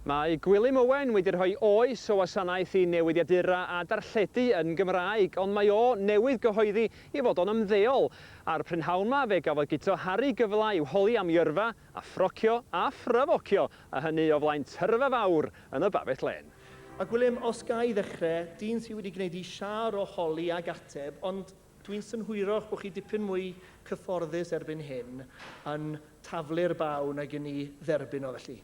Mae Gwilym Owen wedi rhoi oes o wasanaeth i newidiadura a darlledu yn Gymraeg, ond mae o newydd gyhoeddi ei fod o'n ymddeol. A'r prynhawn 'ma fe gafodd Guto Harri gyfle i'w holi am yrfa, a ffrocio, a ffrafocio, a hynny o flaen tyrfa fawr yn y Babell Lên. A Gwilym, os ga i ddechre, dyn sydd wedi gwneud ei siâr o holi ag ateb, ond Dwi'n synhwyrach bod chi dipyn mwy cyfforddus erbyn hyn yn taflu'r baw nag i ni dderbyn o felly.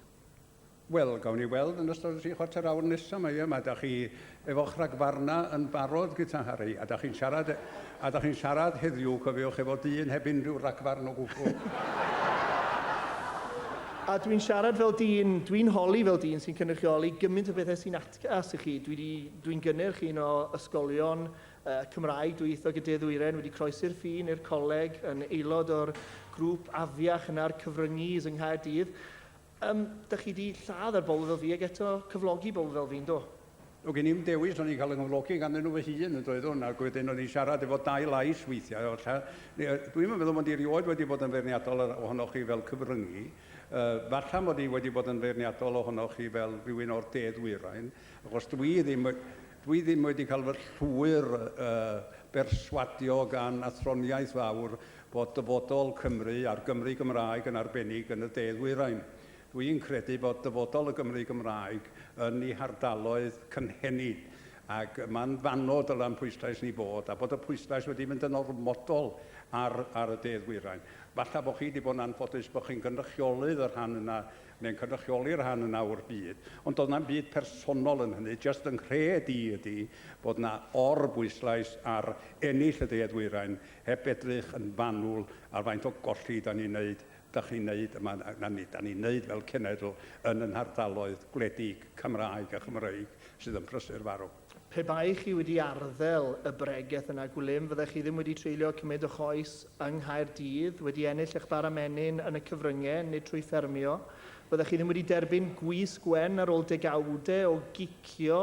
Wel, gawn ni weld yn ystod y tri chwarter awr nesa 'ma, ie? Ma' 'da chi efo'ch rhagfarna yn barod, Guta Harri, a 'da chi'n siarad e- a 'da chi'n siarad heddiw, cofiwch, efo dyn heb unrhyw ragfarn o gwbwl. A dwi'n siarad fel dyn, dwi'n holi fel dyn sy'n cynrychioli gymint o bethe sy'n atgas i chi. Dwi 'di, dwi'n gynnyrch un o ysgolion y Cymraeg, dwyieithog y De Ddwyrain, wedi croesi'r ffin i'r coleg, yn aelod o'r grŵp afiach yna'r cyfryngi's yng Nghaerdydd. Yym, dych chi wedi lladd ar bobl fel fi ac eto cyflogi bobl fel fi, yn do? Doedd gen i'm dewis, o'n i'n cael 'y nghyflogi ganddyn nhw fy hun, yn doeddwn, ac wedyn o'n i'n siarad efo dau lais weithiau, o lla- ni- yy, dwi'm yn meddwl mod i erioed wedi bod yn feirniadol yr- ohonoch chi fel cyfryngi, yy, falla mod i wedi bod yn feirniadol ohonoch chi fel rhywun o'r De Ddwyrain, achos dwi ddim, Dwi ddim wedi cael fy llwyr berswadio gan athroniaeth fawr fod dyfodol Cymru, a'r Gymry Gymraeg yn arbennig, yn y De Ddwyrain. Dwi yn credu fod dyfodol y Gymry Gymraeg yn ei hardaloedd cynhenid, ac man fanno dyla'n pwyslais ni fod, a bod y pwyslais wedi mynd yn ormodol ar y De Ddwyrain. Falla bod chi wedi bod yn anffodus bod chi'n gynrychiolydd y rhan yna Mae'n cynrychioli rhan yna o'r byd, ond doedd na'm byd personol yn hynny, jyst fy nghred i ydi bod yna or-bwyslais ar ennill y De a Dwyrain, heb edrych yn fanwl ar faint o golli 'dan ni'n neud, 'dach chi'n neud yma, na nid 'dan ni'n neud fel cenedl yn 'yn hardaloedd gwledig Cymraeg a Chymreig sydd yn prysur farw. Pe baech chi wedi arddel y bregeth yna Gwilym, fyddech chi ddim wedi treulio cymaint o choes yng Nghaerdydd, wedi ennill eich bara menyn yn y cyfryngau, nid trwy ffermio. Fyddech chi ddim wedi derbyn gwys gwen ar ôl degawdau o gicio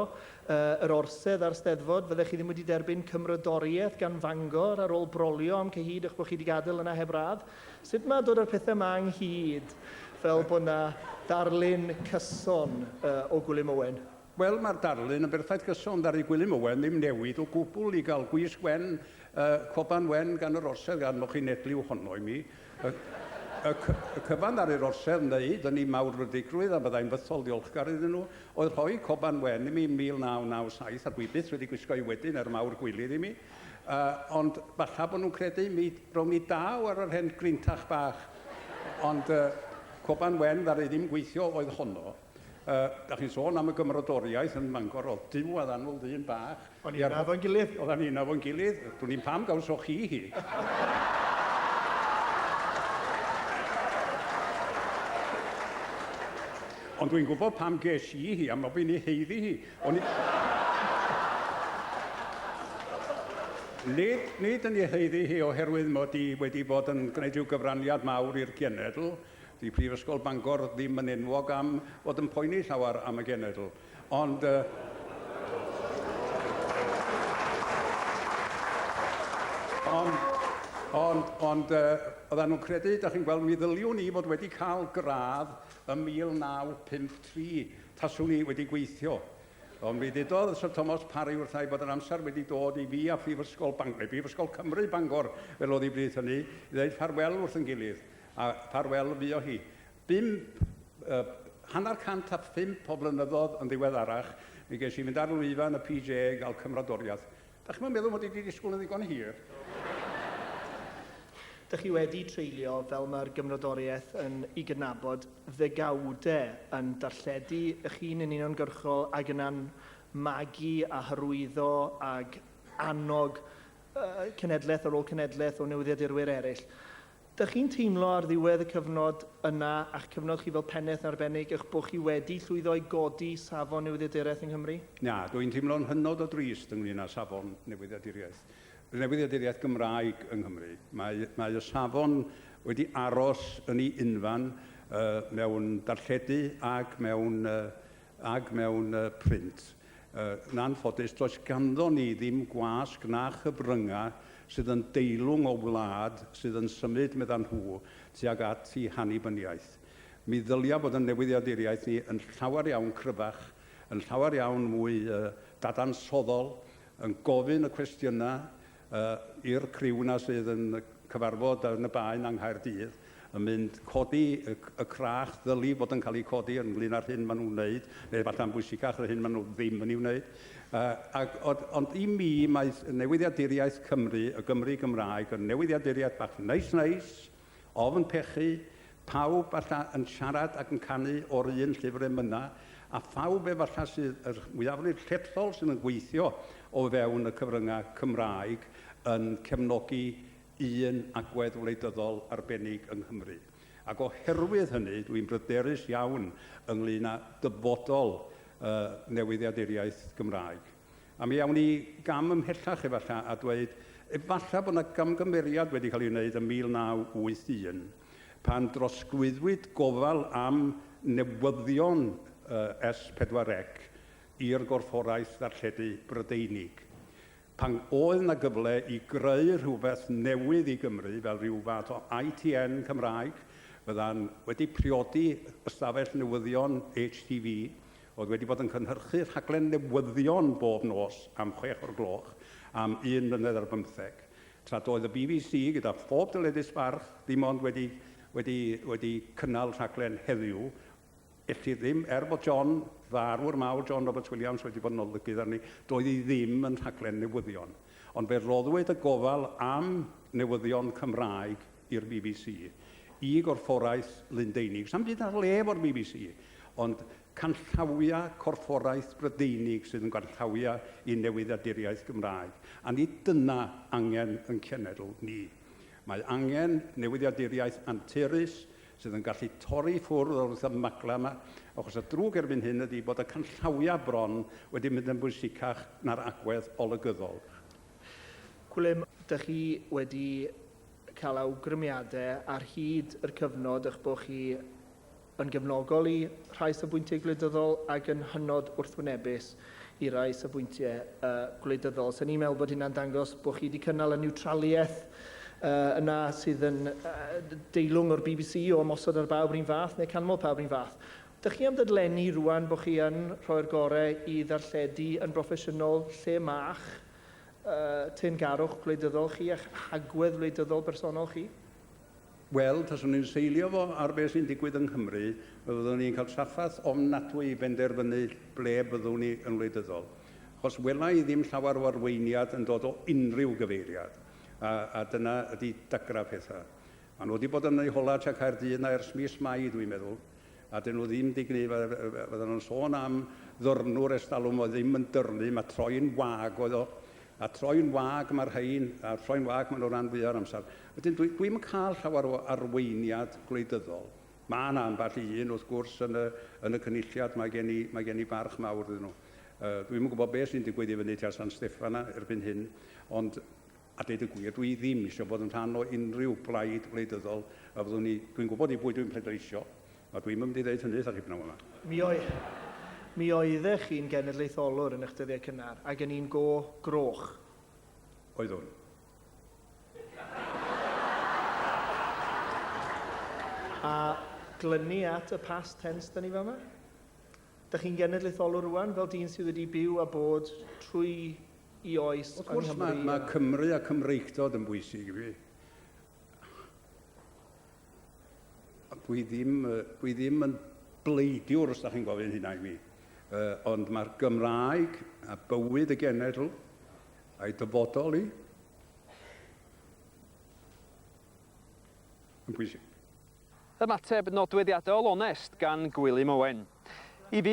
yr orsedd a'r Steddfod. Fyddech chi ddim wedi derbyn cymrodoriaeth gan Fangor ar ôl brolio am cyhyd eich bod chi wedi gadael yna heb radd. Sut mae dod â'r pethau yma ynghyd fel bod yna ddarlun cyson o Gwilym Owen? Wel, mae'r darlun yn berffaith gyson, ddaru Gwilym Owen ddim newid o gwbl i gael gwisg wen, yy, coban wen gan yr orsedd gan mo chi'n edliw honno i mi. Y, y, cy, y cyfan ddaru'r orsedd wneud yn i mawr rydigrwydd, a byddai'n fythol ddiolchgar iddyn nhw, oedd rhoi coban wen i mi yn 1997, a dwi byth wedi gwisgo i wedyn er mawr gwilydd i mi. Yy, ond falla bod nhw'n credu mi rown i daw ar yr hen grintach bach. Ond yy, coban wen ddaru ddim gweithio oedd honno. Yy, da chi'n sôn am y gymrodoriaeth yn Mangor, o'dd Duw a Ddanl ddyn bach... O'n ni'n nabod ein gilydd. Oddan ni'n nabod ein gilydd, dwn i'm pam gawsoch chi hi! Ond dwi'n gwybod pam ges i hi, am bo' fi'n ei haeddu hi. O'n i... Nid, nid yn ei haeddu hi oherwydd mod i wedi bod yn gwneud rhyw gyfraniad mawr i'r genedl, Dydy Prifysgol Bangor ddim yn enwog am fod yn poeni llawer am y genedl, ond yy ond ond ond yy oedden nhw'n credu, dach chi'n gweld, mi ddyliwn i fod wedi cael gradd ym 1953 taswn i wedi gweithio. Ond mi ddudodd Syr Tomos Parry wrtha i bod yr amser wedi dod i fi a Phrifysgol Bangor, neu Brifysgol Cymru Bangor fel oedd hi bryd hynny, i ddeud ffarwel wrth yn gilydd. a ffarwel fuo hi. Bum, uh, hanner cant a phump o flynyddoedd yn ddiweddarach, mi ges i fynd ar lwyfan y PJ i gael cymrodoriaeth. Da chi'n meddwl mod i wedi disgwyl yn ddigon hir? Dych chi wedi treulio, fel mae'r gymrodoriaeth yn ei gydnabod, ddegawdau yn darlledu eich hun yn uniongyrchol ac yna'n magu a hyrwyddo ac annog uh, cenedlaeth ar ôl cenedlaeth o newyddiadurwyr eraill. Dych chi'n teimlo ar ddiwedd y cyfnod yna, a'ch cyfnod chi fel Pennaeth yn arbennig, eich bod chi wedi llwyddo i godi safon newyddiaduraeth yng Nghymru? Na, dw i'n teimlo'n hynod o drist ynglŷn â safon newyddiaduriaeth, newyddiaduriaeth Gymraeg yng Nghymru. Mae, mae y safon wedi aros yn ei unfan yy mewn darlledu ac mewn yy ag mewn print. Yn anffodus, does ganddo ni ddim gwasg na chyfryngau sydd yn deilwng o wlad sydd yn symud, meddan nhw, tuag at i hannibyniaeth. Mi ddylia bod yn newyddiaduriaeth ni yn llawer iawn cryfach, yn llawer iawn mwy dadansoddol, yn gofyn y cwestiynau A i'r criw 'na sydd yn cyfarfod yn y Bae 'na yng Nghaerdydd yn mynd codi y y crach ddyli fod yn cael ei codi ynglŷn â'r hyn maen nhw'n wneud, neu efallai yn bwysicach yr hyn maen nhw ddim yn ei wneud. Yy ac ond ond i mi mae newyddiaduriaeth Cymru, y Gymry Gymraeg, yn newyddiaduriaeth bach neis neis, Ofn pechu, pawb falla yn siarad ac yn canu o'r un llyfr emynau, a phawb efalla sydd yr mwyafrif llethol sydd yn gweithio o fewn y cyfryngau Cymraeg yn cefnogi un agwedd wleidyddol arbennig yng Nghymru. Ac oherwydd hynny, dwi'n bryderus iawn ynglŷn â dyfodol y newyddiaduriaeth Gymraeg. A mi awn ni gam ymhellach efallai a dweud, efallai bod yna gamgymeriad wedi cael ei wneud ym 1981, pan drosglwyddwyd gofal am newyddion S4C i'r Gorfforaeth Ddarlledu Brydeinig, pan oedd yna gyfle i greu rhywbeth newydd i Gymru fel rhyw fath o ITN Cymraeg, fyddan wedi priodi ystafell newyddion HTV, oedd wedi bod yn cynhyrchu rhaglen newyddion bob nos am chwech o'r gloch am un mlynedd ar bymtheg, tra doedd y bbc, gyda phob dyledus barch, ddim ond wedi, wedi, wedi cynnal rhaglen heddiw. Elli ddim, er bod John, farw'r mawr John Roberts Williams, wedi bod yn olygydd arni, doedd hi ddim yn rhaglen newyddion. Ond fe roddwyd y gofal am newyddion Cymraeg i'r bbc, i gorfforaeth Lundeinig, sa'm byd ar le efo'r bbc, ond canllawia corfforaeth Brydeinig sydd yn ganllawia i newyddiaduriaeth Gymraeg, a nid dyna angen yn cenedl ni. Mae angen newyddiaduriaeth anturus sydd yn gallu torri ffwrdd o'r wrthymagla yma, achos y drwg erbyn hyn ydy bod y canllawia bron wedi mynd yn bwysicach na'r agwedd olygyddol. Gwilym, dych chi wedi cael awgrymiadau ar hyd yr cyfnod eich bod chi yn gefnogol i rhai safbwyntiau gwleidyddol ac yn hynod wrthwynebus i rai safbwyntiau uh, gwleidyddol. So ni'n meddwl bod hynna'n dangos bod chi wedi cynnal y niwtraliaeth uh, yna sydd yn uh, deilwng o'r BBC o ymosod ar bawb rhywun fath neu canmol pawb rhywun fath. Dych chi am ddadlenni rwan bod chi yn rhoi'r gorau i ddarlledu yn broffesiynol lle ma'ch teyrngarwch wleidyddol chi a'ch hagwedd wleidyddol bersonol chi? Wel, taswn i'n seilio fo ar beth sy'n digwydd yng Nghymru, fe fyddwn ni'n cael trafferth ofnadwy i benderfynu ble byddwn ni yn wleidyddol. Achos wela i ddim llawer o arweiniad yn dod o unrhyw gyfeiriad, a, a dyna ydi dagrau pethau. Maen nhw wedi bod yn eu hola tua Caerdydd 'na ers mis Mai, dwi'n meddwl. a 'dyn nhw ddim digni, fyddan nhw'n sôn am ddyrnwr ers talwm oedd ddim yn dyrnu, mae troi'n wag oedd o, a troi'n wag mae'r rhain, a troi'n wag maen nhw ran fwyaf o'r amser. Wedyn dwi, dwi'm yn cael llawer o arweiniad gwleidyddol. Mae yna ambell i un wrth gwrs yn y, yn y cynulliad, mae gen i, mae gen i barch mawr iddyn nhw. Uh, dwi'm yn gwybod beth sy'n digwydd i fyny tua San Steffan erbyn hyn, ond A deud y gwir, dwi ddim eisiau bod yn rhan o unrhyw blaid wleidyddol a fyddwn ni, dwi'n gwybod i bwy dwi'n pleidleisio, a dwi'm yn mynd i ddeud hynny eitha rhyb naw yma. Mi oedd, mi oeddech chi'n genedlaetholwr yn eich dyddiau cynnar, ac yn un go groch. Oeddwn. A glynu at y past tense da ni fama? Da chi'n genedlaetholwr rwan, fel dyn sydd wedi byw a bod trwy i oes yng Nghymru. Wrth gwrs, mae Cymru a Cymreictod yn bwysig i fi. Dwi ddim, dwi ddim yn bleidiwr, os da chi'n gofyn hynna i mi. Uh, ond mae'r Gymraeg a bywyd y genedl a'i dyfodol i yn bwysig. Ymateb nodweddiadol onest gan Gwilym Owen. I fi,